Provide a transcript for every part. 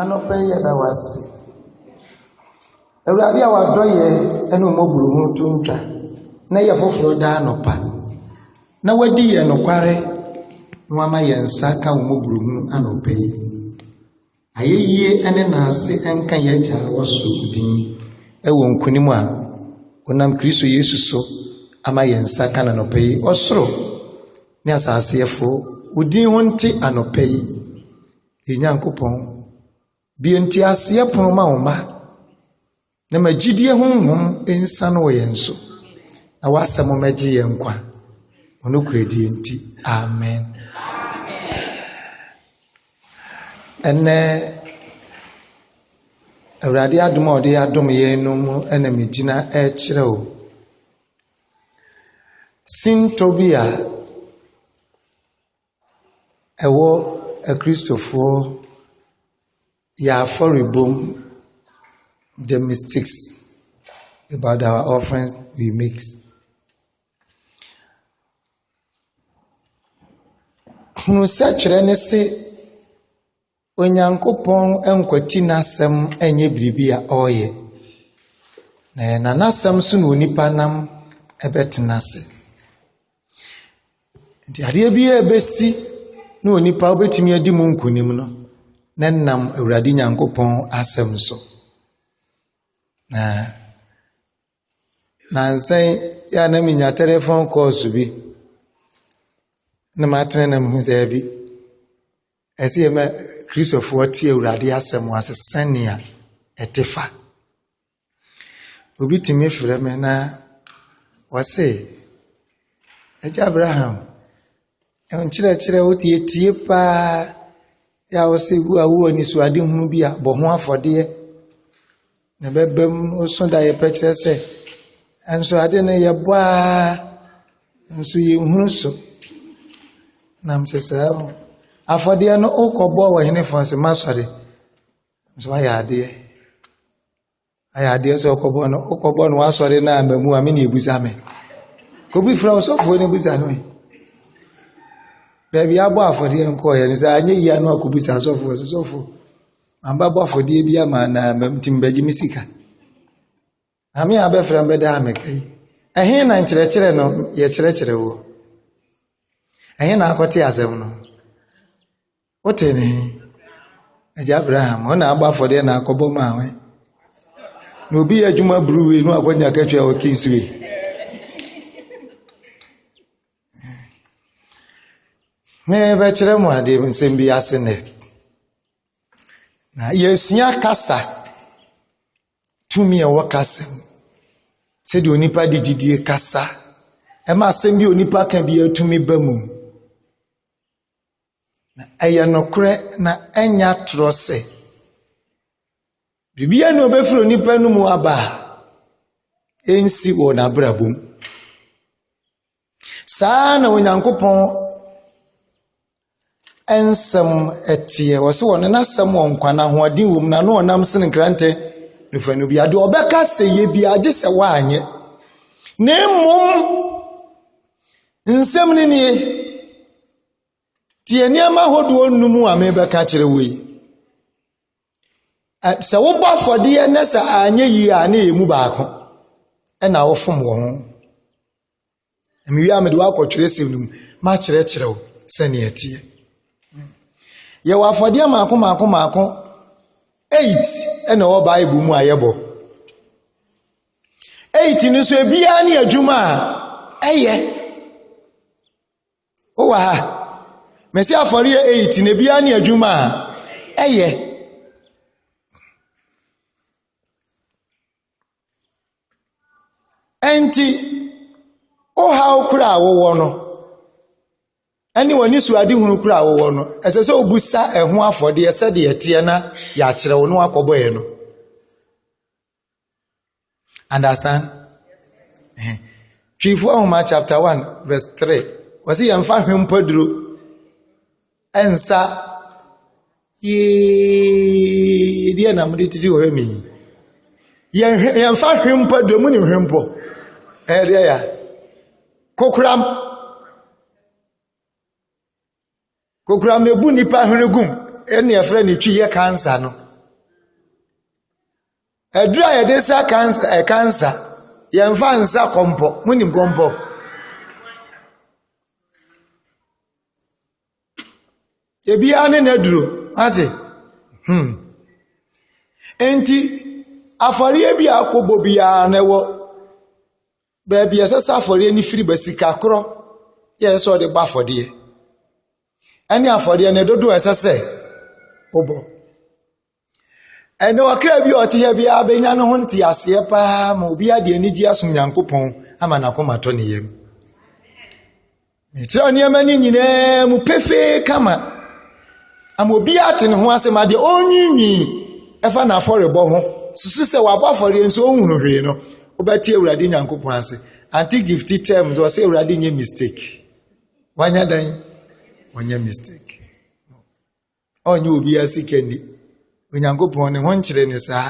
Anɔpa yi yɛda wo ase. Awurade a w'adɔ yɛ ɛne wo mmɔborohunu to ntwa na ɛyɛ foforɔ daa anɔpa na w'adi yɛn nokware na w'ama yɛn nsa ka wo mmɔborohunu anɔpa yi. Ayɛyie ɛne naase ɛnka yɛn agya a wɔ soro din ɛwɔ nkunim a wonam Kristo Yesu so ama yɛn nsa ka no anɔpa yi. Ɔsoro Ne asaseɛfoɔ, wo din ho nte anɔpa yi, yɛn Nyankopɔn. Bue nteaseɛ pono ma wo mma, na ma gyidie honhom nsiane wɔ yɛn so, na w'asɛm mmɛgye yɛn nkwa. Wo nokorɛdie nti, amen. Ɛnɛ, Awurade adom a ɔde adom yɛn no mu na megyina ɛrekyerɛ o. Sintɔ bi a ɛwɔ akristofoɔ wɔn afɔrebɔ mu, the mystics about our offerings we make. Hunu sɛ kyerɛ ne se. Onyankopɔn nkwati n'asɛm nyɛ biribi a ɔreyɛ, na n'asɛm so na onipa nam bɛtena ase. Nti adeɛ biara a ɛbɛsi na onipa wobɛtumi adi mu nkonim no, na ɛnam Awurade Nyankopɔn asɛm so. Na nnansa yi yɛ a na menya telephone calls bi, na matene na mehu daabi. Ɛsɛ yɛma Kristofoɔ te Awurade asɛm ase sɛnea ɛte fa. Obi tumi frɛ me na ɔse, Agya Abraham, nkyerɛkyerɛ wo tie tie paa yɛ a wose wo a wowɔ anisoadehunu bi a bɔ ho afɔdeɛ. Na ɛbɛba mu nso da yɛpɛ kyerɛ sɛ, nso ade no yɛbɔ ara nso yɛnhunu so. Nam sɛ saa mu, afɔdeɛ no wokɔbɔ wɔ henefoɔ nso m'asɔre nso ayɛ adeɛ. Ayɛ adeɛ sɛ wokɔbɔ no wokɔbɔ no w'asɔre no a mmamu a me na ɛbusa me. Kɔbi frɛ wo sɔfoɔ no busa no ɛ. Baabi abɔ afɔdeɛ nkɔeɛ no sɛ anyɛ yie a na wakɔbisa sɔfoɔ sɛ sɔfoɔ Mabɛbɔ afɔdeɛ bi ama wo na nti mebɛgye me sika. Nyame a wobɛfrɛ no bɛdaa me ka yi, ɛhe na nkyerɛkyerɛ no yɛkyerɛkyerɛ woɔ? Ɛhe na wokɔtee asɛm no? Wotee no he? Agya Abraham, wo na abɔ afɔdeɛ na akɔbɔ maa wo. Na obi yɛ adwuma bruu wei na wakɔnya katua wɔ Kingsway. Merebɛkyerɛ mo ade nsɛm bi ase nnɛ. Na yɛresua kasa, tumi a ɛwɔ kasa mu, sɛdeɛ onipa de gyedie kasa, ɛma asɛm bi a onipa ka biara tumi ba mu. Na ɛyɛ nokorɛ na ɛnyɛ atorɔ sɛ. Biribiara nni hɔ a ɔbɛfiri onipa anomu aba a ɛnsi wɔ n'abrabɔ mu. Saa ara na Onyankopɔn nsɛm teɛ. Wɔse ɔno n'asɛm wɔ nkwa na ahoɔden wɔ mu na ano ɔnam sene nkrantɛ ne fanu biara. Deɛ ɔbɛka sɛ yɛ biara gye sɛ woanyɛ. Na mmom nsɛm no nie, tie nneɛma ahodoɔ nnum a merebɛka akyerɛ wo yi. Sɛ wobɔ afɔdeɛ na sɛ anyɛ yie a na ɛyɛ mu baako na wofom wɔ ho. Mewie a mede wakɔ twerɛsɛm no mu makyerɛkyerɛ wo sɛnea ɛteɛ. Yɛwɔ afɔdeɛ mako mako mako eight na ɛwɔ Bible mu a yɛbɔ. Eight no nso ebiara ne adwuma a ɛyɛ. Wowɔ ha? Mese afɔre yɛ eight na ebiara ne adwuma a ɛyɛ. Ɛnti, wo haw koro a wowɔ no, ɛne w'anisoadehunu koro a wowɔ no, ɛsɛ sɛ wobisa ɛho afɔdeɛ sɛdeɛ ɛteɛ na yɛakyerɛ wo na woakɔbɔ ɛno. Understand? Ɛhɛn. Twifoɔ Nwoma chapter one verse three. Wɔsi yɛn fa hwempaduro ɛnsa yee deɛ na mo de titi wɔ hɛ mi. Yɛn hwɛ yɛn fa hwempaduro mu ni hwempɔ. Ɛyɛ deɛ ya. Kokoram. Kokoram na ebu nipa hwene gum ɛna yɛfrɛ ne twi yɛ cancer no. Aduro a yɛde sa kans ɛ kansa, yɛmfa nsa kɔmpɔ. Monim kɔmpɔ? Ebiara ne n'aduro. Moate? Hmm. Enti, afɔreɛ bi a wokɔbɔ biara no ɛwɔ baabi a ɛsɛ sɛ afɔreɛ no firi ba. Sika korɔ na ɛsɛ sɛ wode bɔ afɔdeɛ. Ɛne afɔdeɛ no dodoɔ a ɛsɛ sɛ wobɔ. Ɛnde ɔkra bi a ɔte ha biara bɛnya ne ho nteaseɛ paa ma obiara de anigyeɛ asom Nyankopɔn ama n'akoma atɔ ne yam. Mekyerɛw nneɛma no nyinaa mu pefee kama ama obiara ate ne ho ase ma deɛ ɔrenwiinwii ɛfa n'afɔrebɔ ho susu sɛ wabɔ afɔreɛ nso ɔnhunu hwee no, wobɛte Awurade Nyankopɔn ase. Ante Gifty term sɛ ɔsɛ Awurade nyɛ mistake. Wanya dan? Wanya mistake. Ɔnyɛ obiara sika nni. Onyankopɔn ne ho nkyere ne saa.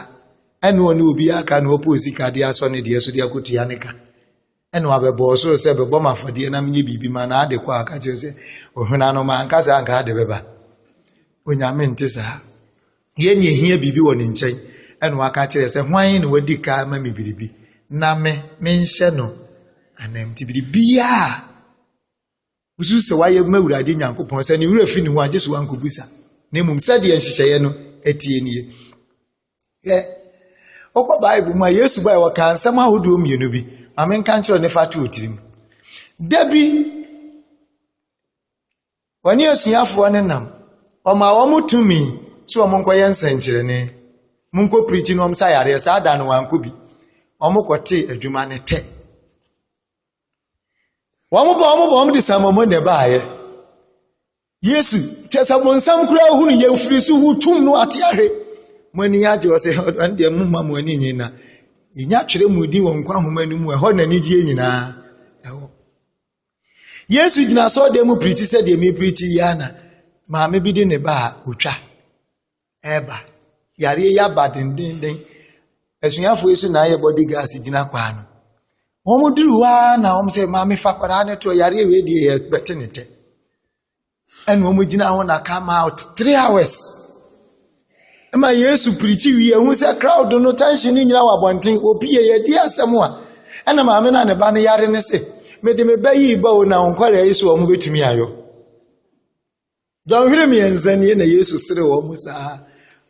Ɛne ɔne obiara aka na ɔpɛ osika de asɔ ne deɛ so de akɔtua ne ka. Ɛne wabɛbɔ ɔsoro sɛ bɛbɔ m afɔdeɛ na menyɛ biribi ma no ade kɔ a ɔka kyerɛ sɛ ɔhwena no ma anka saa anka ade bɛba. Onyame nte saa. Yɛn ne ɛhia biribi wɔ ne nkyɛn ɛne waka kyerɛ sɛ hwan ne wadi ka ma me biribi na me menhyɛ no anam nti biribiaa Wosusu sɛ wayɛ ma Awurade Nyankopɔn, sɛ ne werɛ fi ne ho a, gye sɛ wankɔbisa. Na mmom sɛdeɛ nhyehyɛeɛ no teɛ nie. Hwɛ, wokɔ Bible mu a, Yesu bae wɔkaa nsɛm ahodoɔ mmienu bi. Ma menka nkyerɛ ne fa to tirim. Da bi, wɔne asuafoɔ no nam. Ɔmaa wɔn tumi sɛ wɔn nkɔyɛ nsɛnkyerɛnne. Monkɔ pirikyi na wɔn sa yareɛ. Saa da no wɔankɔ bi. Wɔkɔtee adwuma no tɛ. Wɔbɔɔ wɔn bɔn de samaa mu na ɛbaeɛ. Yesu, kyerɛ sɛ bonsam koraa hunu yɛn firi so hu tum no ate ahwe. Mo ani agye ɔsɛ ɛne deɛ momma mo ani nye na yɛnya twerɛ mu din wɔ nkwa nhoma no mu ɛhɔ na anigyeɛ nyinaa ɛwɔ. Yesu gyina asɔɔdan mu pirikyi sɛ deɛ mepirikyi yi ara na maame bi de ne ba a ɔtwa reba. Yareɛ yi aba dendeenden. Asuafoɔ yi nso na ayɛ body guards gyina kwan ano. Wɔduru hɔ ara na wɔn sɛ, maame fa akwadaa no to hɔ, yareɛ wei deɛ yɛbɛte ne tɛ. Ɛna wɔgyina hɔ na come out three hours. Ɛma Yesu pirikyi wie, ɛhu sɛ crowd no tension no nyinaa wɔ abɔnten. Wɔpie, yɛdi asɛm a, ɛna maame no a ne ba no yare no se, mede me ba yi ba o, na wo nkwadaa yi so wɔbɛtumi ayɔ. Dɔnhwere mmiɛnsa nie na Yesu sere wɔn mu saa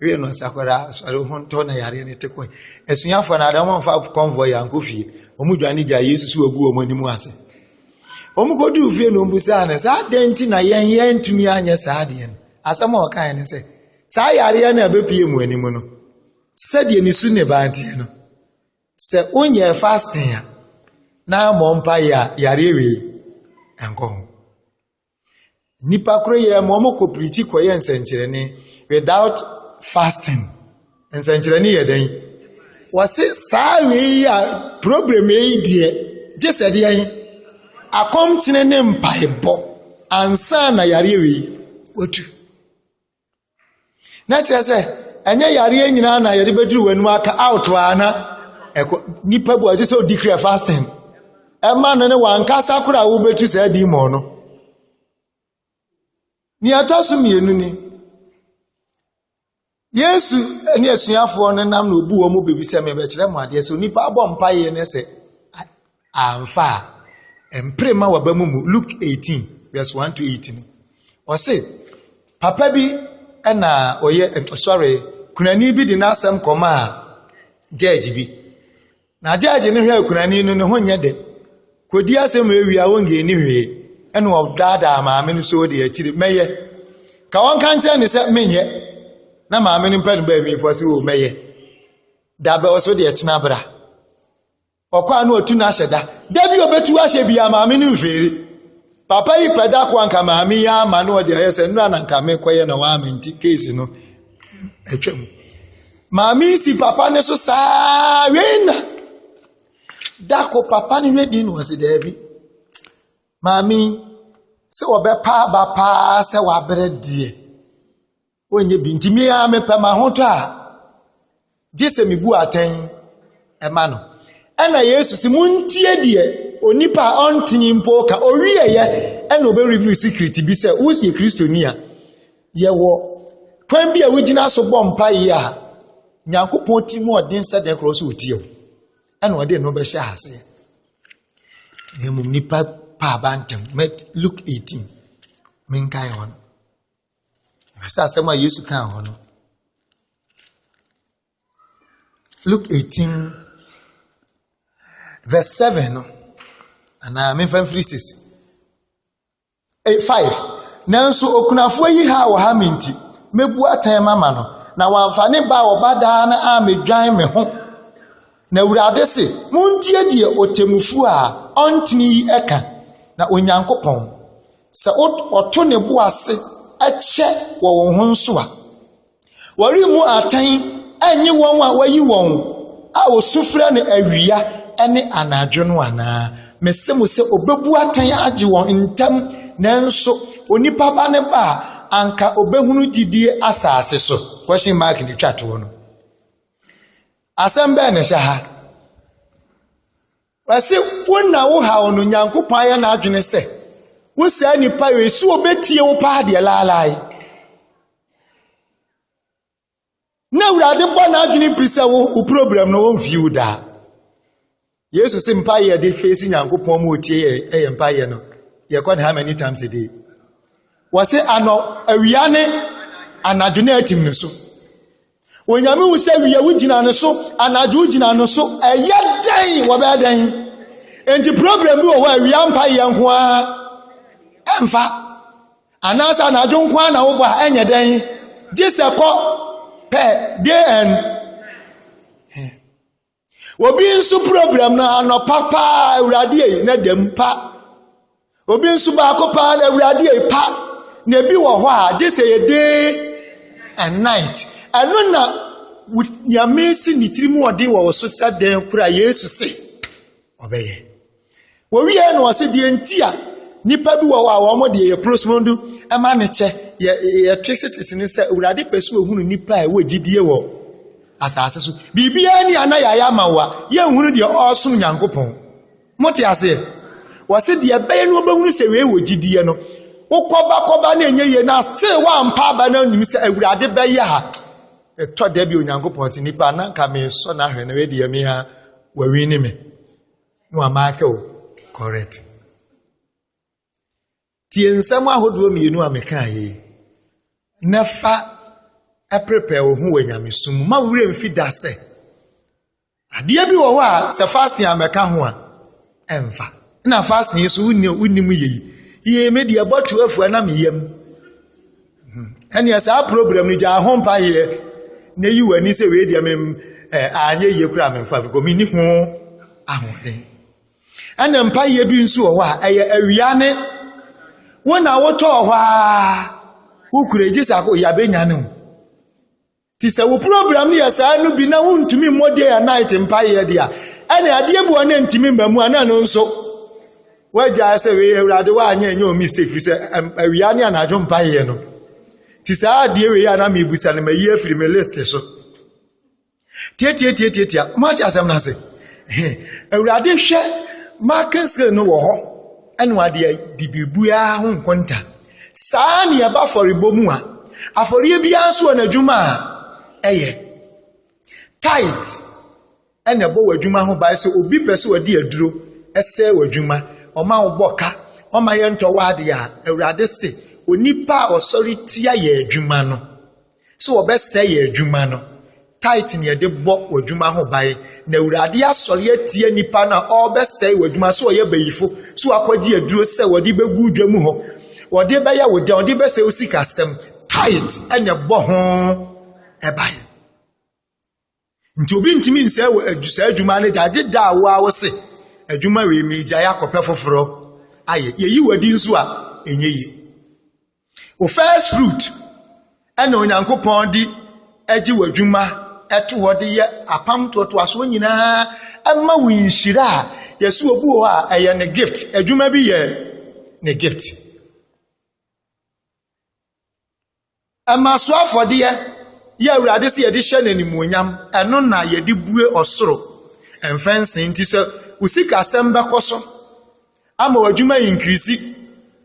wee no sɛ akwadaa asɔre ho ntɔ na yareɛ no te kɔe. Asuafoɔ no ada wɔmfa kɔnvɔe yɛ ankɔ fie. Wɔn dwane gyaa Yesu so wagu wɔn anim ase. Wɔn kɔduru fie no ɔmbusaa no saa adɛn nti na yɛn yɛn ntumi anyɛ saa adeɛ no. Asɛm a ɔkaeɛ no sɛ saa yareɛ no a ɛbɛpie mu anim no sɛdeɛ ne su ne baa nteɛ no sɛ wonyɛɛ fasting a na mmɔ mpaeɛ a yareɛ wei ɛnkɔ ho. Nnipa koro yɛɛ ma wɔkɔ pirikyi kɔyɛ nsɛnkyerɛnne without fasting. Nsɛnkyerɛnne yɛ dɛn? Wɔse saa wei yi a problem yi deɛ gye sɛ deɛ akɔmkyene ne mpaebɔ ansa na yareɛ wei watu. Na kyerɛ sɛ, ɛnyɛ yareɛ nyinaa na yɛde bɛduru w'anim aka out a na ɛkɔ nipa bu a ɛte sɛ ɔdi kura fasting ɛma no ne wankasa koraa a wobɛtu saa demon no nea ɛtɔ so mmienu ni yesu ne asuafoɔ no nam na obu wɔn bɛbi sɛ mebɛkyerɛ mo adeɛ sɛ onipa abɔ mpaeɛ no sɛ Amfa a, mpere mma w'aba mu mmu. Luke eighteen verse one to eight no, ɔse, Papa bi na ɔyɛ, sɔre, kunani bi de n'asɛm kɔmaa gyɛɛgye bi. Na gyɛɛgye no hwɛɛ kunani no, ne ho nyɛ dɛ. Kɔdi asɛm wei wie a, wonngee nni hwee. Ɛna ɔdaadaa maame no sɛ o deɛ akyire mɛyɛ. Ka wɔnka nkyerɛ no sɛ menyɛ. Na maame no mpɛ no bɛɛ mmiifoɔ sɛ o mɛyɛ. Dabɛ ɔse o deɛ tena bra. Ɔkɔ a na ɔtu no ahyɛ da. Da bi ɔbɛtu ahyɛ bi a maame no mfeere. Papa yi pɛ da ko a nka maame yi ama na ɔde ayɛ sɛ nnora na nka mekɔyɛ na waame nti keesi no atwa mu. Maame yi si papa no so saa wei na da ko papa no hwɛ din na ɔse daabi. Maame yi sɛ ɔbɛpa aba paa sɛ wabrɛ deɛ. Wonyɛ bi nti me ara mepɛ m'ahotɔ a gye sɛ mebu atɛn ma no. Ɛna Yesu se montie deɛ onipa a ɔntene mpo ka ɔwieɛ ɛna ɔbɛ review secret bi sɛ woyɛ kristoni a yɛwɔ kwan bi a wogyina so bɔ mpaeɛ a nyankopɔn ti mu ɔden sɛ dɛn korɔ sɛ ɔtie wo ɛna ɔde no bɛhyɛ aseɛ na mmom nipa paaba ntɛm luke 18 menkae hɔ no Sɛ asɛm a Yesu kaa hɔ no, Luke 18, verse 7 no, anaa memfa mfiri 6, 5. Nanso okunafoɔ yi ha wɔ ha me nti, mɛbu atɛn mama no, na wamfa ne ba a ɔba daa no ammɛdwan me ho. Na Awurade se, montie deɛ ɔtemmufoɔ a ɔntene yi ka, na Onyankopɔn sɛ wɔto ne bo ase kyɛ wɔ wɔn ho nso a, wɔremmu atɛn nnye wɔn a wɔayi wɔn a wɔsu frɛ no awia ne anadwo no anaa? Mese mo sɛ obebu atɛn agye wɔn ntɛm, nanso onipa ba no ba a, anka obehunu gyidie asase so. Question mark na etwa toɔ no. Asɛm bɛn na ɛhyɛ ha? Ɔse wo na wo haw no Nyankopɔn ayɛ n'adwene sɛ wo saa nipa wei so obetie wo paa deɛ laalae. Na awurade bɔ n'adwene pi sɛ wo wo problem no wɔmfie wo daa. Yesu se mpa yɛ de fesi Nyankopɔn mu otie yɛ ɛyɛ mpa yɛ no. Yɛkɔ ne how many times a day? Wɔse anɔ awia ne anadwo na atim ne so. Onyame hu sɛ wia wogyina ne so, anadwo wogyina ne so, ɛyɛ dɛn wɔbɛyɛ dɛn? Enti problem bi wɔ hɔ a awia mpa yɛ nko ara ɛmfa anaasɛ anadwo nko ara na wobɔ a ɛnyɛ dɛn gye sɛ kɔ pɛ day and Obi nso program no anɔpa paa awurade ei na dɛm pa. Obi nso baako paa na awurade ei pa. Na ebi wɔ hɔ a gye sɛ yɛ day and night. Ɛno na nyame si ne tirim ɔden wɔ wo so sɛ dɛn kora Yesu se ɔbɛyɛ. Wɔwieeɛ na wɔse deɛ nti a nnipa bi wɔ hɔ a wɔn deɛ yɛ prosmodo ma no kyɛ yɛ yɛ twese ne sɛ awurade pɛ sɛ ohunu nnipa a ɛwɔ gyidie wɔ asase so biribiara ni a na yɛayɛ ama wo a yɛnhunu deɛ ɔresom nyankopɔn mote aseɛ wɔse deɛ ɛbɛyɛ no wɔbɛhunu sɛ wei wɔ gyidie no wokɔba kɔba na ɛnyɛ yie na still woampa aba no anim sɛ awurade bɛyɛ a ɛtɔ da bi onyankopɔn se nnipa na nka mesɔ no ahwɛ na wei deɛ me a wɔwi ne me na wama ahwɛ o correct tie nsɛm ahodoɔ mmienu a mekaa yi na fa prepare wo ho wɔ nyamesom mu ma wo werɛ mfi da sɛ adeɛ bi wɔ hɔ a sɛ fasting a mɛka ho a ɛmfa na fasting nso wonim yei yei me deɛ bɔtwe afua na meyam ɛneɛ saa program no gyaa ho mpaeɛ na yi w'ani sɛ wei deɛ mem anyɛ yie koraa memfa bi kɔ menni ho ahoɔden ɛna mpaeɛ bi nso wɔ hɔ a ɛyɛ awia ne wo na wotɔɔ hɔ a wokura gye sɛ yɛabɛnya no mu Nti sɛ wo program no yɛ saa no bi na wontumi mmɔ day and night mpaeɛ de a, ɛne adeɛ bi wɔ ne ntumi mma mu a na ɛno nso wagyae sɛ wei awurade woanyɛ ɛnyɛ ɔ mistake firi sɛ awia ne anadwo mpaeɛ no nti saa adeɛ wei a na mebusa no mayi afiri me list so tiatiatiatiatia moate asɛm no ase awurade hwɛ marking scale no wɔ hɔ ɛne wade bibibua ho nkonta Saa ara na yɛba afɔrebɔ mu a, afɔreɛ biara nso wɔ n'adwuma a ɛyɛ. Tithe ɛna ɛbɔ w'adwuma ho ban sɛ obi pɛ sɛ ɔde aduro ɛsɛe w'adwuma, ɔma wobɔ ka, ɔma yɛntɔ w'adeɛ a, Awurade se, onipa a ɔsɔre tia yɛn adwuma no, sɛ wɔbɛsɛe yɛn adwuma no. Tithe ne yɛde bɔ w'adwuma ho ban. Na Awurade asɔre atia nipa no a ɔrebɛsɛe w'adwuma sɛ ɔyɛ bayifo, sɛ wakɔgye aduro sɛ wɔde bɛgu dwa mu hɔ, wɔde bɛyɛ wo dɛn, wɔde bɛsɛe wo sikasɛm. Tithe na ɛbɔ ho ban. Nti obi ntumi nsɛe wɔ adwu saa adwuma no gya gye da a wo a wo se adwuma wei megyae akɔpɛ foforɔ ayɛ. Yɛyi wadi nso a, ɛnyɛ yie. Wo first fruit ɛna Onyankopɔn de agye w'adwuma ɛto hɔ de yɛ apam toatoasoɔ nyinaa ɛma wo nhyira a yɛsi obi wɔ hɔ a ɛyɛ ne gift. Adwuma bi yɛ ne gift. Ɛma so afɔdeɛ yɛ Awurade sɛ yɛde hyɛ no animuonyam, ɛno na yɛde bue ɔsoro mfɛnsee nti. Sɛ wo sikasɛm bɛkɔ so ama w'adwuma ayinkirisi,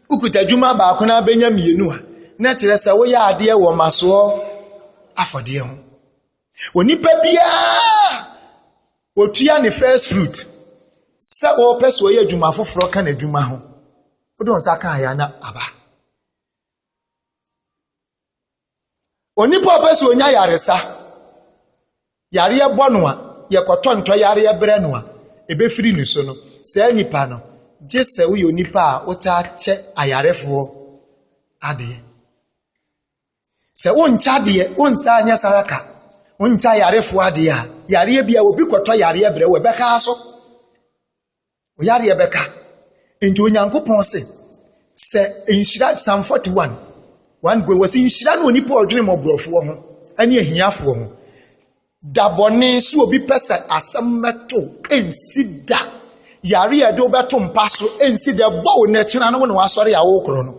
wokuta adwuma baako na abɛnya mmienu a, na ɛkyerɛ sɛ woyɛ adeɛ wɔ masoɔ afɔdeɛ ho. Onipa biara ɔtua ne first fruit sɛ ɔpɛ sɛ ɔyɛ adwuma foforɔ ka n'adwuma ho. Wode wo nsa ka a, yɛ a na aba. Onipa a ɔpɛ sɛ ɔnya ayaresa, yareɛ bɔ no a, yɛkɔtɔ ntɔyareɛ brɛ no a, ɛbɛfiri ne so no, saa nipa no, gye sɛ woyɛ onipa a wotaa kyɛ ayarefoɔ adeɛ. Sɛ wonkyɛ adeɛ, wontaa nyɛ saa ka, wonkyɛ ayarefoɔ adeɛ a, yareɛ bi a obi kɔtɔ yareɛ brɛ wo, ɛbɛka so. Wo yareɛ bɛka. Nti Onyankopɔn se, sɛ nhyira, Psalm 41, 1 go, wɔse nhyira no onipa ɔdwene mmɔborɔfoɔ ho ne ahiafoɔ ho. Da bɔne so obi pɛ sɛ asɛm bɛto nsi da. Yareɛ de wobɛto mpa so nsi da, ɛbɔ wo na ɛkyena no wo na wasɔre a wokorɔ no.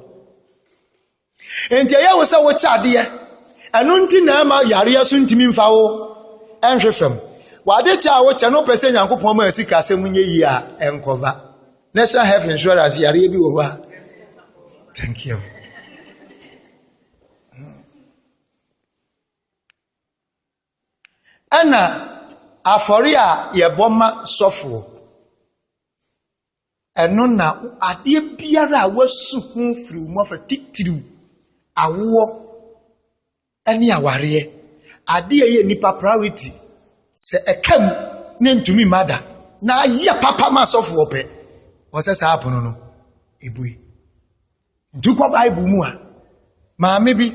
Enti ɛyɛ wo sɛ wokyɛ adeɛ. Ɛno nti na ɛma yareɛ so ntumi mfa wo nhwe fam. W'adekyɛ a wokyɛ no wopɛ sɛ Nyankopɔn ma sikasɛm nyɛ yie a, ɛnkɔba. National Health Insurance yareɛ bi wɔ hɔ a Thank you. Ɛna afɔre a yɛbɔ ma sɔfoɔ. Ɛno na adeɛ biara a woasu ho firi wo mmɔfra, titiriw awoɔ ne awareɛ, adeɛ a ɛyɛ nnipa priority, sɛ ɛka mu na ɛntumi mma da, na ayɛ papa ma asɔfoɔ pɛ, ɔsɛ saa apono no ebue. Nti wokɔ Bible mu a, maame bi,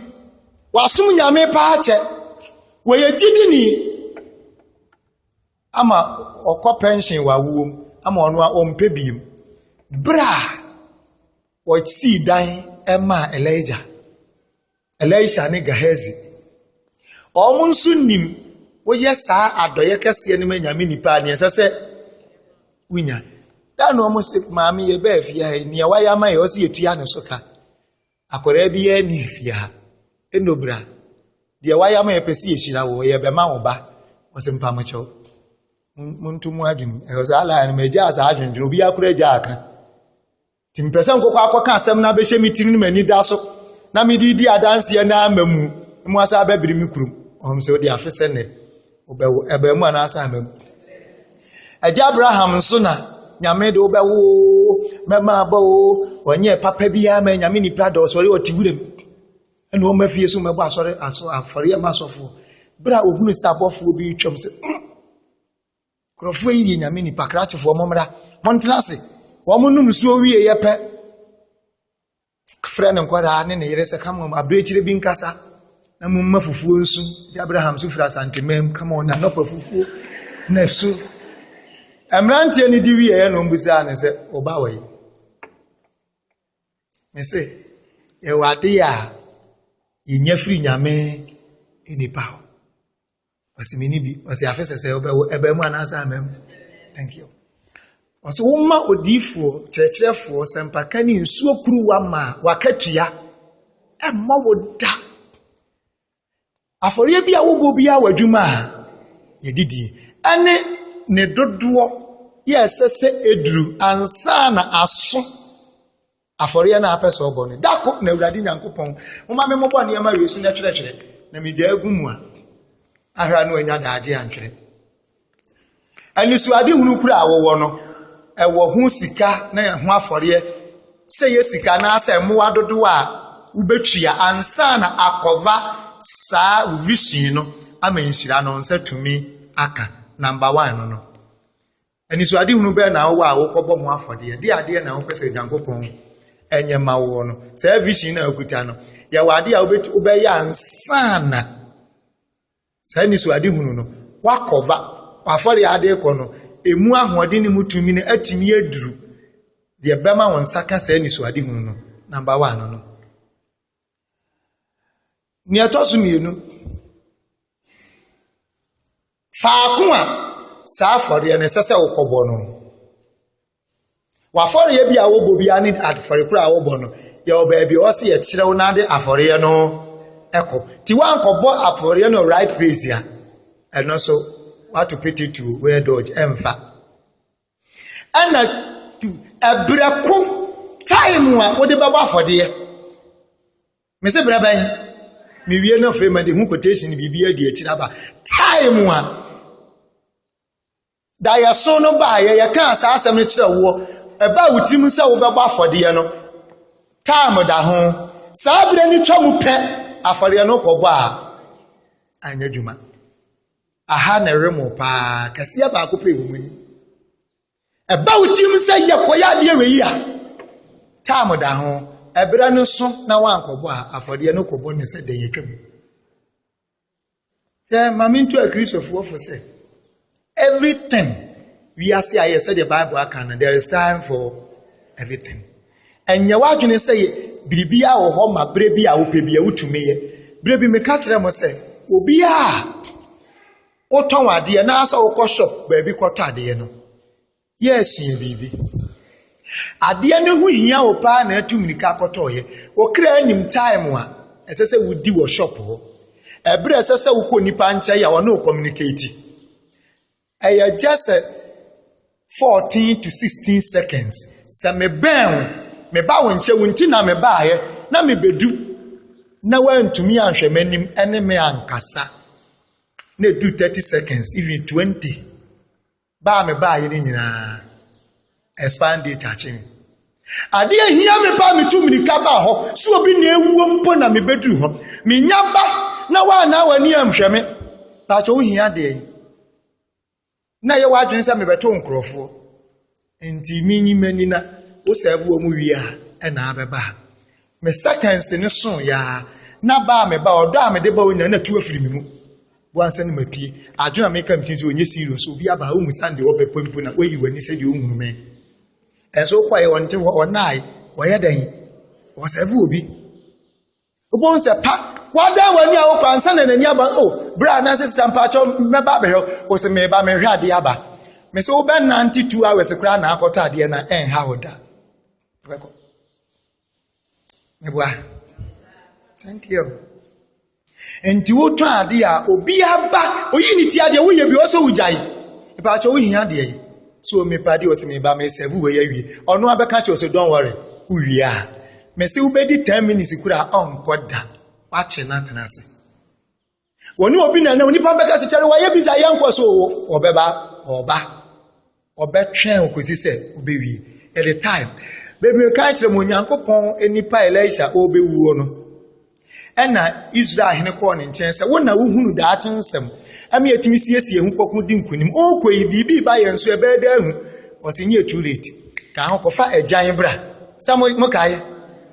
wasom Nyame paa kyɛ, wɔyɛ gyidini, ama ɔkɔ pɛnhyen wɔ awoɔ mu ama ɔno a ɔmpɛ biem berɛ a wɔsii dan maa Elija, Elisha ne Gehazi. Wɔn nso nim woyɛ saa adɔeɛ kɛseɛ no ma Nyame nipa a neɛ ɛsɛ sɛ wonya. Da na wɔn sɛ maame yɛbaa fie ha yi, neɛ wayɛ ama yɛ ɔsɛ yɛtua ne so ka. Akwadaa biara nni ha fie ha. Eno bra. Deɛ wayam a yɛpɛ sɛ yɛhyira wo, ɔyɛ bɛma wo ba. Ɔse mpa mo kyɛw. Monto mu adwene. Ɛhɔ saa laa no magyaa saa adwendwene. Obiara kora agyaa aka. Nti mpɛ sɛ nkɔkɔ akɔka asɛm no abɛhyɛ me tirim na m'ani da so na mede di adanseɛ na ama mu. Mo asa abɛbere me kurom. Ɔhom sɛ wode afe sɛ nnɛ. Wobɛwo abaamu anaasɛ amamu. Agya Abraham nso na nyame de wobɛwo oo mɛma aba oo ɔnyɛ papa biara ma nyame nipa da ɔsɔre ɔte wura mu ɛna ɔma fie so mɛbɔ asɔre aso afɔre ɛma asɔfoɔ berɛ a ɔhunu sɛ abɔfoɔ bi retwam sɛ hmm, nkurɔfoɔ yi yɛ nyame nipa krakyefoɔ mommra montena ase wɔn nom nsuo wie yɛ pɛ Frɛ ne nkwadaa ne ne yere sɛ come on abirekyire bi nkasa na mo mma fufuo nsu. Gye Abraham so firi Asantemanm come on anɔpa fufuo na su. Mmeranteɛ no di wieɛ na ɔmbusaa ne sɛ ɔba wɔ yi. Me se yɛwɔ adeɛ a yɛnya firi nyame nnipa hɔ. ɔsi mi ni bi ɔsi afe sɛsɛ ɔbɛwo ɛbɛn mu anaasɛ amɛn mu thank you ɔsi woma odiifoɔ kyerɛkyerɛfoɔ sɛmpaka ne nsuo kuruwa ma waka tua ɛmmɔ wo da afɔreɛ bi a wobɔ bi a w'adwuma a yɛdidie ɛne ne dodoɔ yɛ ɛsɛ sɛ eduru ansa na aso. Afɔreɛ no a apɛ sɛ ɔbɔ no, da ko na Awurade Nyankopɔn, moma me mobɔ nneɛma wei so na twerɛtwerɛ, na megya agu mu a, ahra no anya daagye antwerɛ. Anisoadehunu kura a wɔwɔ no, ɛwɔ ho sika na ɛho afɔreɛ, sɛ yɛ sika na sɛ mmoa dodoɔ a wobɛtua ansa na akɔva saa vision no ama nhyira no nsa tumi aka. Number one no no. Anisoadehunu bɛn na wowɔ a wokɔbɔ ho afɔdeɛ de adeɛ na wopɛ sɛ Onyankopɔn nyɛ ma woɔ no? Saa vision no a wokuta no, yɛwɔ adeɛ a wobɛtu wobɛyɛ ansa na saa anisoadehunu no wakɔva w'afɔdeɛ adeɛ kɔ no, emu ahoɔden ne mu tumi no atumi aduru deɛ bɛma wo nsa ka saa anisoadehunu no, number one no. Nea ɛtɔ so mmienu, faako a saa afɔreɛ no ɛsɛ sɛ wokɔbɔ no, w'afɔreɛ bi a wobɔ biara ne afɔreɛ korɔ a wobɔ no, yɛwɔ baabi a ɛwɔ sɛ yɛkyerɛ wo na wode afɔreɛ no kɔ. Nti woankɔbɔ afɔreɛ no right place a, ɛno nso woato petetuo, wɛɛdɔɔgye, ɛmfa. Ɛna du ɛbrɛ ko time a wode bɛbɔ afɔdeɛ. Me se brɛ bɛn? Me wie no afei ma de ho quotation biribi adi akyiri aba. Time a da yɛso no baayɛ yɛkaa saa asɛm no kyerɛ woɔ ɛba a wo tirim sɛ wobɛbɔ afɔdeɛ no time da ho. Saa berɛ no twa mu pɛ afɔdeɛ no kɔbɔ a anyɛ adwuma. Aha na ɛremo paa, kasia baako pɛ wɔ mu ni. Ɛba wo tirim sɛ yɛkɔyɛ adeɛ wei a, time da ho, ɛberɛ no so na woankɔbɔ a, afɔdeɛ no kɔbɔ ne sɛ dɛn atwam. Hwɛ ma mento akristofoɔ fo sɛ, everything Wiase a yɛyɛ sɛdeɛ Bible aka no, there is time for everything. Ɛnyɛ w'adwene sɛ biribiara wɔ hɔ ma berɛ bi a wopɛ bi a wotumi yɛ. Berɛ bi meka kyerɛ mo sɛ, obiara a wotɔn adeɛ na asɛ wokɔ shop baabi kɔtɔ adeɛ no, yɛ asua biribi. Adeɛ no ho hia wo paa na atu mmirika akɔtɔɔyɛ. Wo kra anim time a ɛsɛ sɛ wodi wɔ shop hɔ. Ɛberɛ ɛsɛ sɛ wokɔ nipa nkyɛn a wɔne wo communicate. Ɛyɛ just sɛ fourteen to sixteen seconds. Sɛ mebɛn wo, meba wo nkyɛn, wo nti na mebaeɛ, na mebedu na woantumi anhwɛ m'anim ne me ankasa. Na ɛduru thirty seconds, even twenty. Baa mebaeɛ no nyinaa. Expire date akye me. Ade a ehia me paa metu mmirika baa hɔ. Sɛ obi na awuo mpo na mebɛduru hɔ. Menya ba na woanaa w'ani anhwɛ me. Paatwɔ wohia deɛn? Na yɛ w'adwene sɛ mebɛto nkurɔfoɔ. Nti menyi m'ani na wo sɛɛve wɔn wie a ɛna abɛba ha. Me sɛkɛnse no soo yɛ ara na ba a meba ɔdɔ a mede ba wo nyinaa na atu afiri me mu. Bua nsɛ no mapue. Adwene a meka me tirim sɛ ɔnyɛ serious, obi aba ha ɔhu sande ɔpɛ pɛ mpo na wayi w'ani sɛdeɛ ɔnhunu me. Ɛnso wokɔeɛ ɔnte hɔ, ɔnae, ɔyɛ dɛn? Ɔsɛve obi. Wobɛhu sɛ pa, wadan w'ani a wokɔ ansa na n'ani aba, o, berɛ a na sɛ sita mpakyɛw mɛba abɛhwɛ wo, wo sɛ meba mehwɛ adeɛ aba. Me sɛ wobɛnante two hours koraa na akɔtɔ adeɛ na ɛnha wo da. Wobɛkɔ. Meboa? Thank you. Nti wotɔ ade a obi aba oyi ne ti adeɛ woyɛ bi ɔsɛ wogyae mpakyɛ wohia adeɛ yi so mepa deɛ ɔsɛ meba mesɛve wei awie ɔno abɛka kyerɛ ɔsɛ don worry wowie a mese wobɛdi 10 minutes kura a ɔnkɔ da wakye no atena ase wɔne obi na na onipa bɛka sɛ kyɛre wɔayɛ bisa yɛ nkɔ so ɔbɛba ɔba ɔbɛtwɛn ɔkɔsi sɛ ɔbɛwie ɛde time bebree ka kyerɛ mu onyankopɔn nipa elisha ɔbɛwuo no ɛna israel hene kɔɔ ne nkyɛn sɛ wo na wohunu daate nsɛm ɛma yɛtumi siesie ho kɔko di nkonim ɔkɔ yi biribi ba yɛn so ɛbɛyɛ dɛ ahu ɔsɛ nyɛ too late kaa ho kɔfa agyan bra sɛ mokaeɛ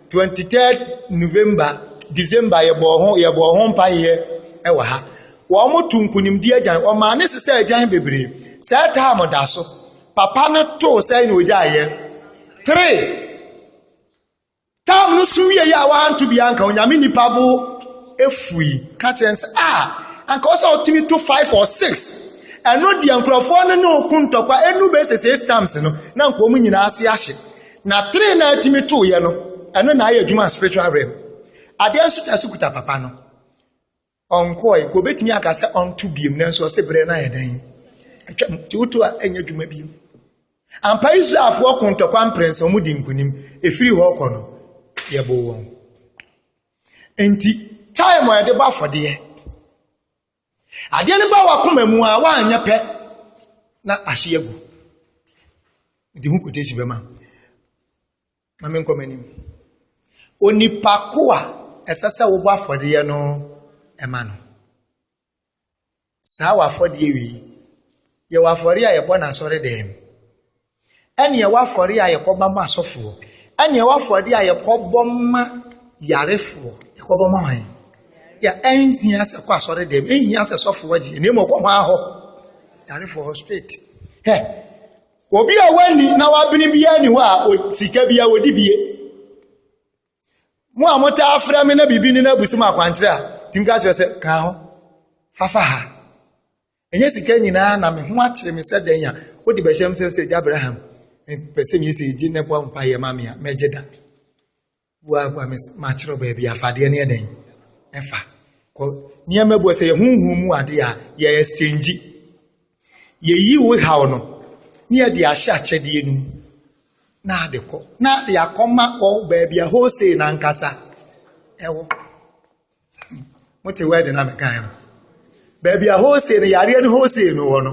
Twenty third November, December yɛbɔɔ ho yɛbɔɔ ho mpaeɛ wɔ ha. Wɔto nkonimdie agyan, wɔmaa ne sesɛ agyan bebree. Saa taam da so. Papa no too sɛn na ɔgyaeɛ. Three, taam no so wieeɛ a wɔanto bi anka Onyame nipa bo efui ka kyerɛ sɛ a ah, anka ɔsɛ ɔtumi to five or six. Ɛno deɛ nkurɔfoɔ no ne ɔko ntɔkwa ɛnu bɛsɛ six times no na nka wɔn nyinaa ase ahye. Na tiri na ɛtumi to yɛ no ɛno na ayɛ adwuma spiritual realm adeɛ nso ta so kuta papa no ɔnkɔɛ nka obɛtumi aka sɛ ɔnto biem nanso ɔse berɛ no ayɛ dɛn atwam nti woto a ɛnyɛ adwuma biem ampa israelfoɔ ko ntɔkwa mprɛnsa ɔmo di nkonim ɛfiri hɔ kɔ no yɛboo wɔn nti time a yɛde bɔ afɔdeɛ Adeɛ no ba w'akoma mu a woanyɛ pɛ na ahye agu. Nti ho quotation bɛma. Ma menkɔ m'anim. Onipa ko a ɛsɛ sɛ wobɔ afɔdeɛ no ma no. Saa wɔ afɔdeɛ wei. Yɛwɔ afɔre a yɛbɔ no asɔre dɛm. ɛne ɛwɔ afɔreɛ a yɛkɔba ma asɔfoɔ, ɛne ɛwɔ afɔreɛ a yɛkɔbɔ ma yarefoɔ, yɛkɔbɔ ma wɔn. Yɛ ɛnhia sɛ kɔ asɔre dɛm, ɛnhia sɛ sɔfoɔ gye, ɛnna mmom kɔ hɔ ahɔ, yarefoɔ hɔ straight. Hɛ, obi a wani na wabene biara ni hɔ a sika bi a wɔdi bie. Mo a motaa afra me na biribi ne no abusi mu akwankyerɛ a, tumi ka kyerɛ sɛ kaa ho, fafa ha. Ɛnyɛ sika nyinaa na me ho akyere me sɛ dɛn a wode bɛhyɛ m sɛ sɛ Agya Abraham pɛ sɛ meyɛ sɛ gye na bɔ mpaeɛ ma me a mɛgye da. Bua kwa me makyerɛ baabi afadeɛ ne ɛdɛn ɛfa. Kɔ nneɛma bua sɛ yɛ honhom mu adeɛ a yɛ exchange. Yɛyi wo haw no ne yɛde ahyɛ akyɛdeɛ no mu na ade kɔ na de akɔma wɔ baabi a wholesale no ankasa ɛwɔ. Mote word no a mekae no? Baabi a wholesale no yareɛ no wholesale no wɔ no.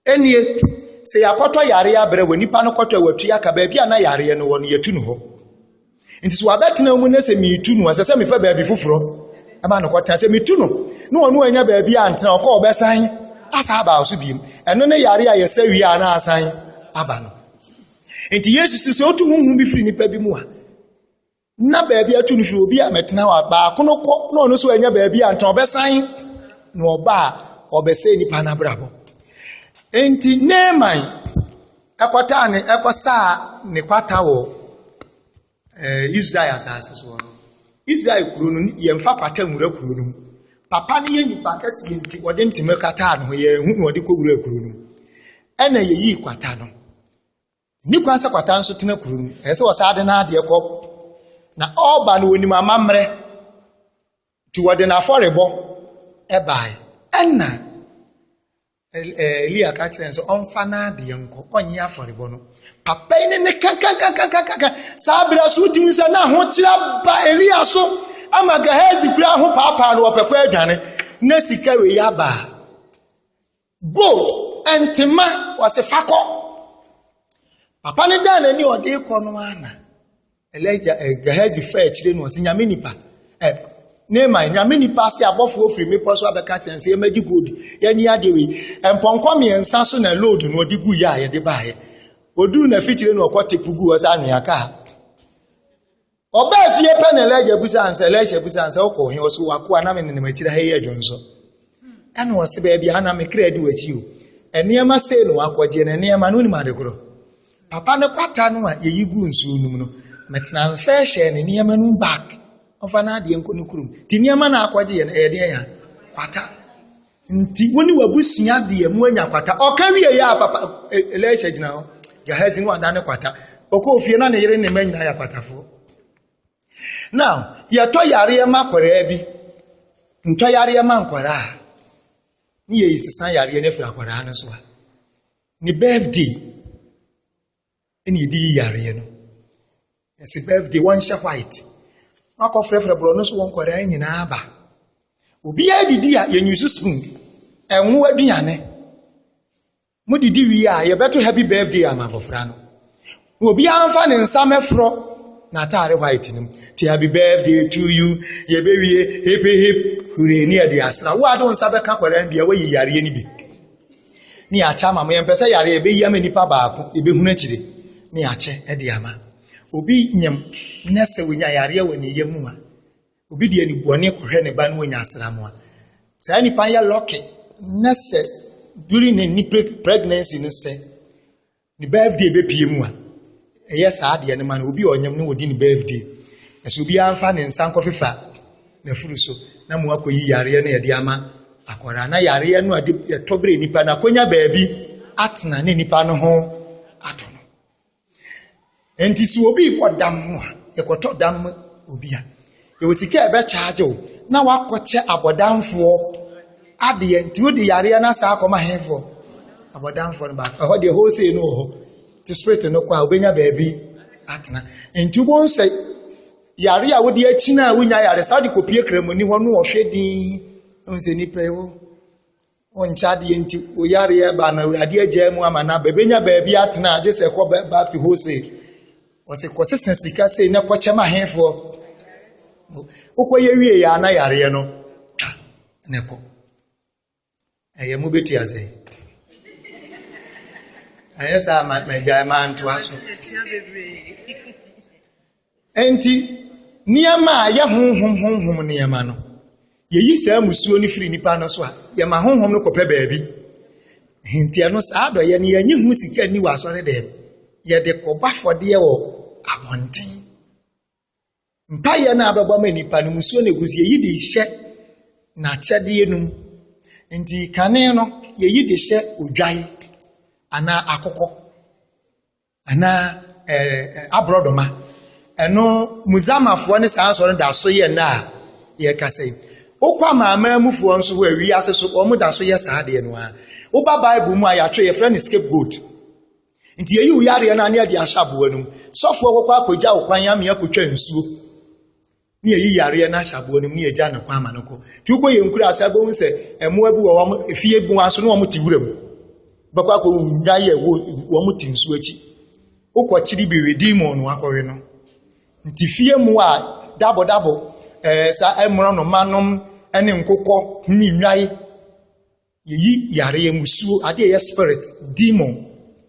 Ɛnie, sɛ yɛakɔtɔ yareɛ abrɛ wɔ nipa no kɔtɔ wɔ atua ka baabi a na yareɛ no wɔ no yɛtu no hɔ. Nti sɛ wabɛtena mu ne sɛ metu no a sɛ sɛ mepɛ baabi foforɔ ɛma no kɔtena sɛ metu no ne ɔno anya baabi a ntena ɔkɔ ɔbɛsan asa aba so biem. Ɛno ne yareɛ a yɛsɛ wie a na asan aba no. Nti Yesu so sɛ otu huhu bi firi nipa bi mu a na baabi atu no hwɛ obi a mɛtena hɔ a baako no kɔ na ɔno nso anya baabi a ntena ɔbɛsan na ɔba a ɔbɛsɛ nipa no abrabɔ nti neeman ɛkɔtaa ne ɛkɔsaa ne kwata wɔ ɛɛ eh, israel asase soɔ no israel kuro no yɛmfa kwata nwura kuro no papa no yɛ nipa kɛseɛ nti ɔde ntoma kataa ne ho yɛn ho na ɔde kɔ wura kuro no ɛna yɛyii kwata no Nni kwan sɛ kwata nso tena kuro no. Ɛsɛ sɛ wɔsan de n'adeɛ kɔ. Na ɔreba no, wɔnim amammerɛ. Nti wɔde n'afɔrebɔ bae. Ɛnna Elia ka kyerɛ no sɛ ɔmfa n'adeɛ nkɔ, ɔnyɛ afɔrebɔ no. Papa yi ne ne kankankankankankan. Saa berɛ so wotumi sɛ na ahokyerɛ ba Elia so ama Gehazi kura ho paapaa no wɔpɛ kɔ adwane. Na sika wei aba a. Gold ɛnte mma wɔse fa kɔ. Papa no daa n'ani a ɔde rekɔ no ara na Elija ɛ eh, Gehazi fa akyire no ɔse nyame nipa ɛ eh, Naaman nyame nipa ase abɔfoɔ firi mmepɔ so abɛka kyerɛ sɛ yɛmɛgye gold yɛnyi adeɛ wei mpɔnkɔ mmiɛnsa so na load no ɔde gu yɛ a yɛde baeɛ ɔduru na afikyire no ɔkɔ tepu gu ɔsɛ anwea kaa Ɔbaa fie pɛ na Elijah bisaa no sɛ, Elisha bisaa no sɛ, wokɔ he? Ɔse, w'akoa na menenam akyiri ha yi adwonso. Ɛna ɔse, baabi a na me kra di w'akyi o. Nneɛma sei na wakɔgye, na nneɛma no wonim ade korɔ. Papa no kwata no a yɛyi gu nsuo nom no, metena nso hyɛɛ ne nneɛma no bag. Ɔmfa n'adeɛ nkɔ ne kurom. Nti nneɛma na akɔgye yɛ no, ɛyɛ deɛ ya? Kwata. Nti wo ne w'abusua deɛ moanya kwata. Ɔka wieeɛ a papa Elisha gyina hɔ. Gehazi no ada ne kwata. Ɔkɔɔ fie na ne yere ne mma nyinaa yɛ akwatafoɔ. Now yɛtɔ yareɛ ma akwadaa bi ntɔ yareɛ ma nkwadaa ne yɛyi sesa yareɛ no afiri akwadaa no so a ne birthday ɛna yɛde yi yareɛ no yɛsi birthday wɔnhyɛ white wakɔfrɛfrɛ borɔno so wɔn nkwadaa nyinaa aba obiara didi a yɛnyusu spoon ɛnwo aduane mo didi wie a yɛbɛto happy birthday ama abɔfra no na obiara nfa ne nsa mɛforɔ n'ataare white no mu te happy birthday to you yɛbɛwie hip hip hooray ne yɛde asra wo a de wo nsa bɛka kwadaa bi a wayi yareɛ no bi ne yɛakyɛ ama mo. Yɛmpɛ sɛ yare a ɛbɛyi ama nipa baako ɛbɛhunu akyire ne yɛakyɛ de ama. Obi nyem na sɛ wɔnya yareɛ wɔ ne yam a, obi de anibɔne kɔhwɛ ne ba no wɔnya asram a, saa nipa yɛ lɔke na sɛ during ne pregnancy no sɛ ne birthday bɛpie mu a ɛyɛ saa adeɛ no ma no obi a ɔnyam no wɔdi ne birthday ɛsɛ obiara mfa ne nsa nkɔfefa n'afuru so na mo akɔyi yareɛ no yɛde ama akwaraa na yareɛ no a de yɛtɔ berɛ nipa no akɔnya baabi atena ne nipa no ho atɔ no Enti sɛ obi rebɔ dam no a, yɛkɔtɔ dam ma obi a, yɛwɔ sika a yɛbɛkyaagye wo na woakɔkyɛ abɔdamfoɔ adeɛ. Nti wode yareɛ no asan akɔma hefoɔ? Abɔdamfoɔ no baako. Ɛhɔ deɛ wholesale no wɔ hɔ. Nti spirit no kɔ a, wobɛnya baabi atena. Nti wobɛhu sɛ yare a wode akyina a wonya yare saa wode kɔpie kramoni hɔ no ɔhwɛ din. Ɛhu sɛ nipa yi wɔ Wɔnkyɛ adeɛ nti, wo yareɛ ba na Awurade agyaa mu ama no aba. Ɛbɛnya baabi atena gye sɛ kɔ back to wholesale. Wɔsɛ kɔsesa sika sei na kɔkyɛ ma hefoɔ. Wokɔyɛ wie yɛ ana yareɛ no ka na ɛkɔ. Ɛyɛ mo bɛtu asɛn. Ɛyɛ saa ma magyae ma ntoa so. Enti, nneɛma a ɛyɛ honhom honhom nneɛma no, yeyi saa mmusuo no firi nnipa no so a, yɛma honhom no kɔpɛ baabi. Henteɛ no, saa adɔeɛ no, yɛnye ho sika nni wɔ asɔredɛm. Yɛde kɔbɔ afɔdeɛ wɔ abɔnten. Mpaeɛ no a bɛbɔ ma nnipa no, mmusuo na ɛgu so. Yɛyi de hyɛ n'akyɛdeɛ no mu. Nti, kane no, yɛyi de hyɛ odwan anaa akokɔ. Anaa ɛɛ aborɔdɔma. Ɛno Muzamafoɔ ne saa asɔre da so yɛ nna a yɛkasa yi. Wokɔ amanaman mufoɔ nso hɔ a wiase so wɔn da so yɛ saa adeɛ no ara. Woba Bible mu a yɛatwerɛ yɛfrɛ no scapegoat. Nti yɛyi wo yareɛ no a ne yɛde ahyɛ aboa no mu. Sɔfoɔ kɔkɔ akɔgya wo kwan amea kɔtwa nsuo. ne yɛyi yareɛ no ahyɛ aboɔ no mu ne yɛgya no kwan ma no kɔ nti wokɔ yɛ nkura ase abɛhu sɛ mmoa bi wɔ wɔn efie bi wɔn aso ne wɔn te wura mu bɛkɔ akɔ nya yɛ wɔ wɔn te nsuo akyi wokɔ kyiri bi we demon no akɔwe no nti fie mu a dabodabo ɛɛ eh, sa ɛmorɔ eh, no manom ɛne eh, nkokɔ ne nnwae Yeyi yareɛ mu suo, adeɛ a ɛyɛ spirit, demon,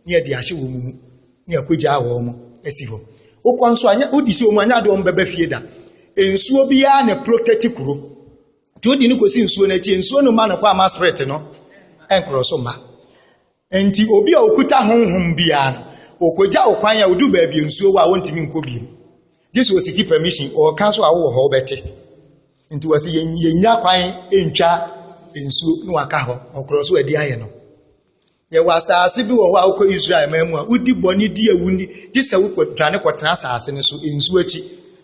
ne yɛde ahyɛ wɔn mu, ne yɛakɔgyaa wɔn asi hɔ. Wokɔ nso a, wodi si wɔn anyɛ adeɛ wɔn bɛba fie da. Nsuo biara na protect kuro. Nti wode no kɔsi nsuo no akyi, nsuo no mma no kwan ma spirit no nkorɔ so mma. Enti obi a ɔkuta honhom biara no, ɔkɔgya wo kwan a ɔduru baabi a nsuo wɔ a wɔntumi nkɔ biom. Gye sɛ ɔsiki permission, ɔka so a wowɔ hɔ wobɛte. Nti wɔse yɛnya kwan ntwa nsuo na waka hɔ, ɔkorɔ so adi ayɛ no. Yɛwɔ asaase bi wɔ hɔ a wokɔ Israel man mu a wodi bɔne di awu ni, gye sɛ wokɔ dwane kɔtena asaase no so, nsuo akyi.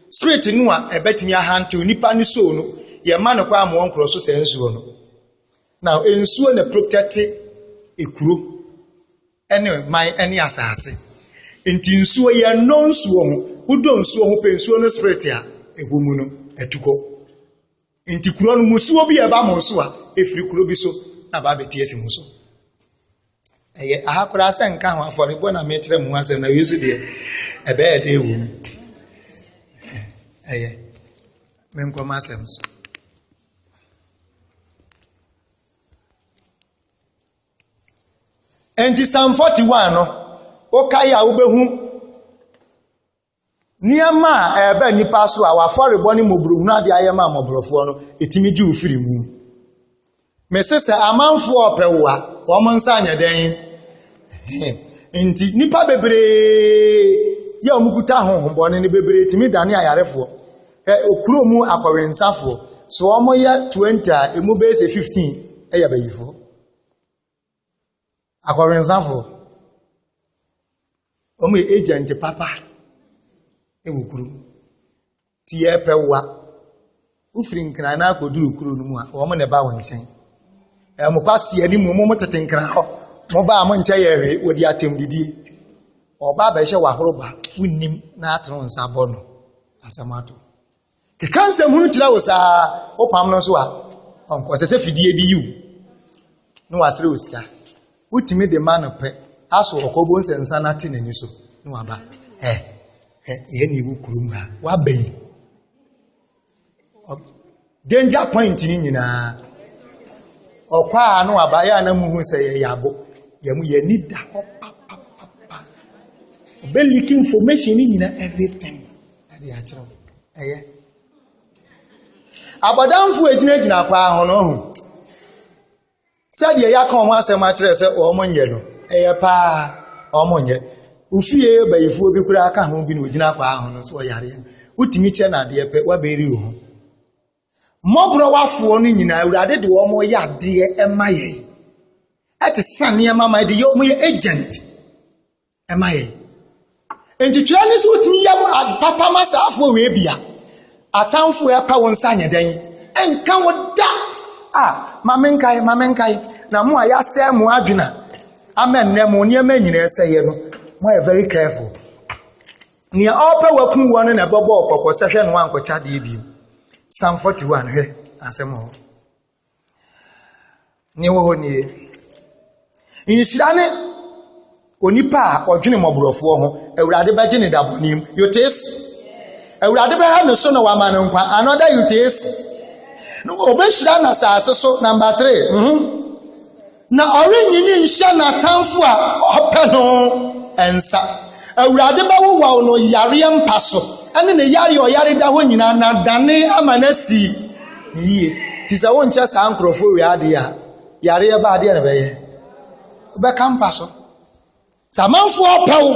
Spirit no a ɛbɛtumi ahantew nipa no soul no, yɛmma no kwan ma ɔnkorɔ so saa nsuo no. Now, nsuo na protect ekuro ɛne man ɛne asaase. Nti nsuo yɛ nnɔ nsuo ho. Wodɔ nsuo ho pɛ nsuo no spirit a ɛwɔ mu no atukɔ. Nti kuro no musuo bi a ɛba mo so a ɛfiri kuro bi so na ba bɛte asi mo so. Ɛyɛ aha koraa sɛ nka ho afɔrebɔ na mekyerɛ mu asɛm na wei so deɛ ɛbɛyɛ dɛ wɔ mu. Ɛyɛ me nkɔm asɛm so. Enti Psalm 41 no, wokae a wobɛhu Nneɛma a ɛreba nnipa so a w'afɔrebɔ ne mmɔborɔhunu ade ayɛ ma mmɔborɔfoɔ no, ɛtumi gye wo firi mu. Mese sɛ amanfoɔ ɔpɛ wo a, wɔn nsa nyɛ dɛn? Nti nnipa bebree yɛ wɔn kuta ahohombɔne no bebree tumi dane ayarefoɔ. Ɛ okuro mu akɔwensafoɔ, so wɔyɛ 20 a, ɛmu bɛyɛ sɛ 15 ɛyɛ abayifoɔ. Akɔwensafo, wɔyɛ agent papa wɔ kurom. Nti yɛrepɛ wo a, wofiri Nkran na akɔduru kuro no mu a, wɔn na ɛba wo nkyɛn. Na wɔn kwasea no mu, wɔn mo tete Nkran hɔ. Moba a, monkyɛ yɛn hwee, wɔdi atɛmdidie. Ɔba abɛhwɛ w'ahoroba, wonnim na ate wo nsa abɔ no, asɛm ato wo. Keka nsɛm hunu kyerɛ wo saa, wopam no nso a, ɔnkɔ. Sɛ sɛ fidie bi yiw na wasrɛ wo sika, wotumi de ma no pɛ, aso ɔkɔ bo nsɛ nsa no ate n'ani so na waba. Ɛ, ɛ, yɛn ne wo kurom ha, waba yi. Danger point ni nyinaa, ɔkɔ a na waba, yɛ a na muhu sɛ yɛyɛ abo, yɛn mu yɛn ani da hɔ papapapa. Ɔbɛliki information ni nyinaa everything. ɛde akyerɛ wo ɛyɛ abɔdamfo a ɛgyinagyina paa ho no ho sɛdeɛ yɛaka wɔn asɛm akyerɛ sɛ wɔn nyɛ no ɛyɛ paa wɔn nyɛ ofie bayifoɔ bi koraa ka ho bi na ogyina paa ho no so ɔyareɛ wotumi kyɛ no adeɛ pɛ wabɛri wo ho mmɔborɔwafoɔ no nyinaa awurade de wɔn yɛ adeɛ ɛma yɛn ɛte sa nneɛma ma ɛde yɛ wɔn yɛ agent ma yɛn. Enti twerɛ no sɛ wotumi yɛ papa ma saafoɔ wei bia atamfoɔ ɛpɛ wo nsa nyɛ dɛn ɛnka wo da a ma menkae ma menkae na mo a yɛasɛe mo adwena ama nnɛ mo nneɛma nyinaa ɛsɛeɛ no moayɛ very careful nea ɔpɛ wakum wɔ no na ɛbɛbɔ ɔkɔkɔ sɛ hwɛ no ankɔkyɛ adeɛ bio Psalm 41 hwɛ asɛm hɔ Nea ɛwɔ hɔ nie, nhyira ne onipa a ɔdwene mmɔborɔfoɔ ho, Awurade bɛgye ne da bɔne mu. You taste? Awurade bɛha ne so na wama no nkwa. Another you taste? No, ɔbɛhyira no asase so. Number three. Mm -hmm. Na ɔrennyini nhyɛ n'atamfo a wɔpɛ no nsa. Awurade bɛwowaw no yareɛ mpa so ne ne yare a ɔyare da hɔ nyinaa na adane ama no asi no yie. Nti sɛ wonkyɛ saa nkurɔfoɔ wei adeɛ a, yareɛ ba adeɛ na ɛbɛyɛ? Wobɛka mpa so. Sɛ amanfoɔ apɛ wo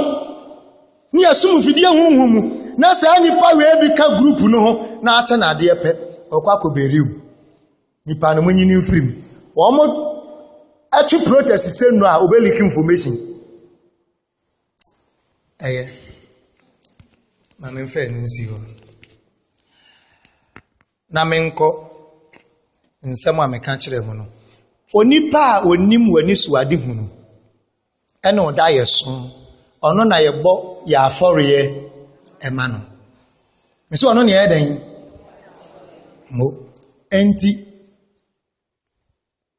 ne yɛsom mfidie honhom mu na saa nnipa wei bi ka group no ho na ate no adeɛ pɛ, ɔkɔ akɔbɛri wo. Nnipa no monyi no mfiri mu. Wɔtwe protest sɛ nnuro a wɔbɛ leak information. Ɛyɛ. Ma me mfɛ no nsi hɔ. Na menkɔ nsɛm a meka kyerɛ mu no. Onipa a onim w'ani so ade hunu. Ɛna ɔda yɛ so. Ɔno na yɛbɔ yɛ afɔreɛ ɛma no. Mesi ɔno na yɛyɛ dɛn? Mo. Enti,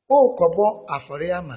worekɔbɔ afɔreɛ ama.